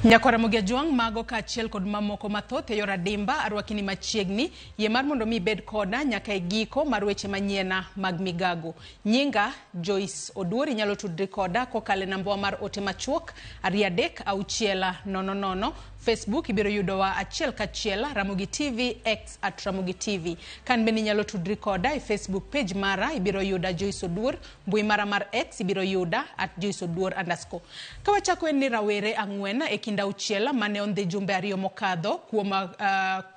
Nyakora Mogi Ajwang' mago kaachiel kod mamoko mathoth e yor adimba arwakini machiegni. Yie mar mondo mi ibed koda nyaka e giko mar weche manyiena mag migago. Nyinga Joyce Oduor inyalo tudri koda kokalo e nambawa mar ote machuok ariyo adek auchiela nono nono. Facebook ibiro yudowa achiel kachiel Ramogi TV X at Ramogi TV. Kan bende inyalo tudri koda e Facebook page mara ibiro yuda Joyce Oduor Mbui mara mar X ibiro yuda at Joyce Oduor underscore. Ka wachako en ni rawere ang'wen e kind auchiel mane ondhi jumbe ariyo mokadho kuom uh,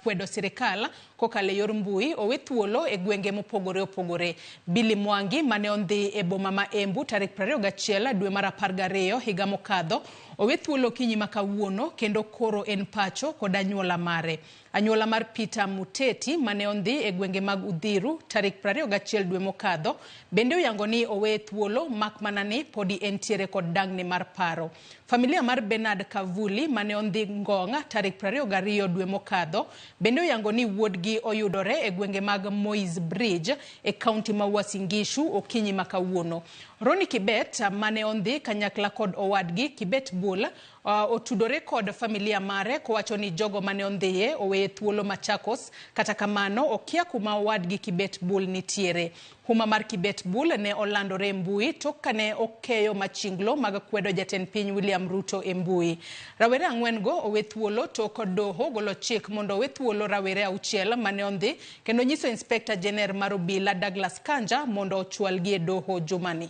kwedo sirikal kokalo e yor mbui owe thuolo e gwenge mopogore opogore. Billy Mwangi mane ondhi e boma ma Embu tarik 21 dwe mar 12 higa mokadho owe thuolo okinyi ma kawuono kendo koro en pacho kod anyuola mare. Anyuola mar Peter Muteti mane ondhi e gwenge mag Uthiru tarik 21 dwe mokadho bende oyango ni oweye thuolo mak mana ni podi entiere kod dang'ni mar paro. Familia mar Bernard Kavuli mane ondhi Ngong tarik 22 dwe mokadho bende oyango ni wuodgi oyudore e gwenge mag Moi's Bridge e kaunti ma Uasin Gishu okinyi ma kawuono. Ronnie Kibet mane ondhi kanyakla kod owadgi Kibet Bull Uh, otudore kod familia mare kowacho ni jogo mane ondhiye oweye thuolo Machakos. Kata kamano okia kuma owadgi Kibet Bul nitiere. Huma mar Kibet Bul ne olandore e mbui tok kane okeyo machinglo mag kwedo jatend piny William Ruto e mbui. Rawere ang'wen go owe thuolo tok doho golo chik mondo owe thuolo rawere auchiel mane ondhi kendo nyiso Inspector Jener mar obila Douglas Kanja mondo ochwalgi e doho jumani.